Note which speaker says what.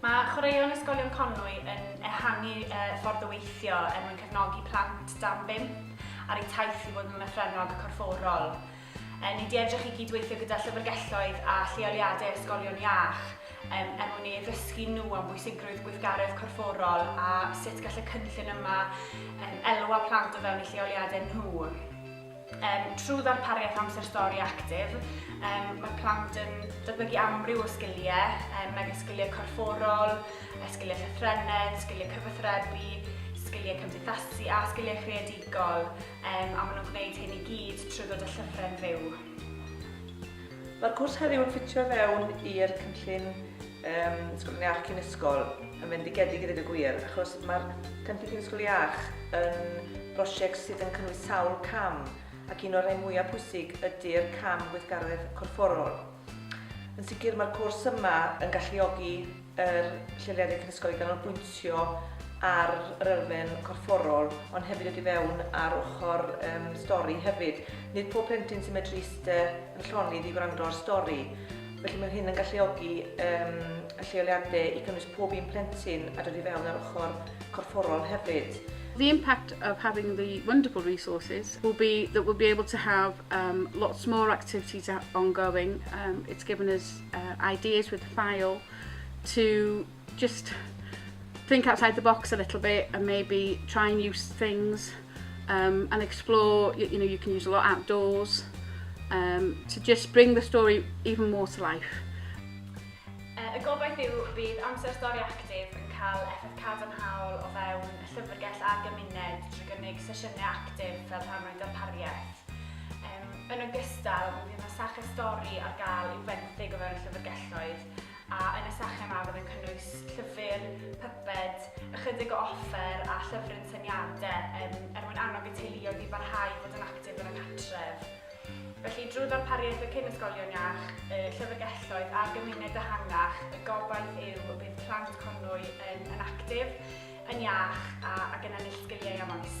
Speaker 1: Mae Chwaraeon Ysgolion Conwy yn ehangu ffordd o weithio er mwyn cefnogi plant dan bump ar eu taith i fod yn lythrennog corfforol. Ni wedi edrych i gyd-weithio gyda llyfrgelloedd a lleoliadau ysgolion iach er mwyn i ddysgu nhw am bwysigrwydd gweithgaredd corfforol a sut gall y cynllun yma elwa plant o fewn eu lleoliadau nhw. Um, trwy ddarpariaeth amser stori actif, um, mae plant yn datblygu amryw o sgiliau, um, megis sgiliau corfforol, sgiliau llythrenedd, sgiliau cyfathrebu, sgiliau cymdeithasu a sgiliau creadigol, um, a maen nhw'n gwneud hyn i gyd trwy ddod â llyfrau'n fyw.
Speaker 2: Mae'r cwrs heddiw yn ffitio fewn i'r cynllun Yym, Ysgol Cynnig Iach cyn ysgol yn fendigedig i ddweud y gwir, achos mae'r Cynllun Cyn Ysgol Iach yn brosiect sydd yn cynnwys sawl cam, ac un o'r rhai mwyaf pwysig ydy'r cam gweithgaredd corfforol. Yn sicr mae'r cwrs yma yn galluogi yr lleoliadau cyn ysgol i ganolbwyntio ar yr elfen corfforol, ond hefyd wedi fewn ar ochr um, stori hefyd. Nid pob plentyn sy'n medru eistedd yn llonydd i wrando ar stori, Felly mae hyn yn galluogi um, y lleoliadau i gynnwys pob un plentyn a dod i fewn ar ochr corfforol hefyd. The impact
Speaker 3: of having the wonderful resources will be that we'll be able to have um, lots more activities ongoing. Um, it's given us uh, ideas with the file to Just think outside the box a little bit and maybe try and use things um, and explore, you, you know, you can use a lot outdoors um, to just bring the story even more to life.
Speaker 1: Uh, y gobaith yw bydd amser stori actif yn cael effaith cadarnhaol o fewn y llyfrgell a'r gymuned drwy gynnig sesiynau actif fel rhan o'i darpariaeth. Um, yn ogystal, mi fydd yna sach y stori ar gael i'w fenthyg o fewn y llyfrgelloedd a yn y sesiwn yma bydd yn cynnwys llyfr, pyped, ychydig o offer a llyfryn syniadau yn er mwyn annog y teuluoedd i barhau i fod yn actif yn y cartref. Felly, drwy ddarpariaeth y cyn ysgolion iach, y llyfrgelloedd a'r gymuned ehangach, y gobaith yw y bydd plant Conwy yn, yn actif, yn iach a, ac yn ennill sgiliau am oes.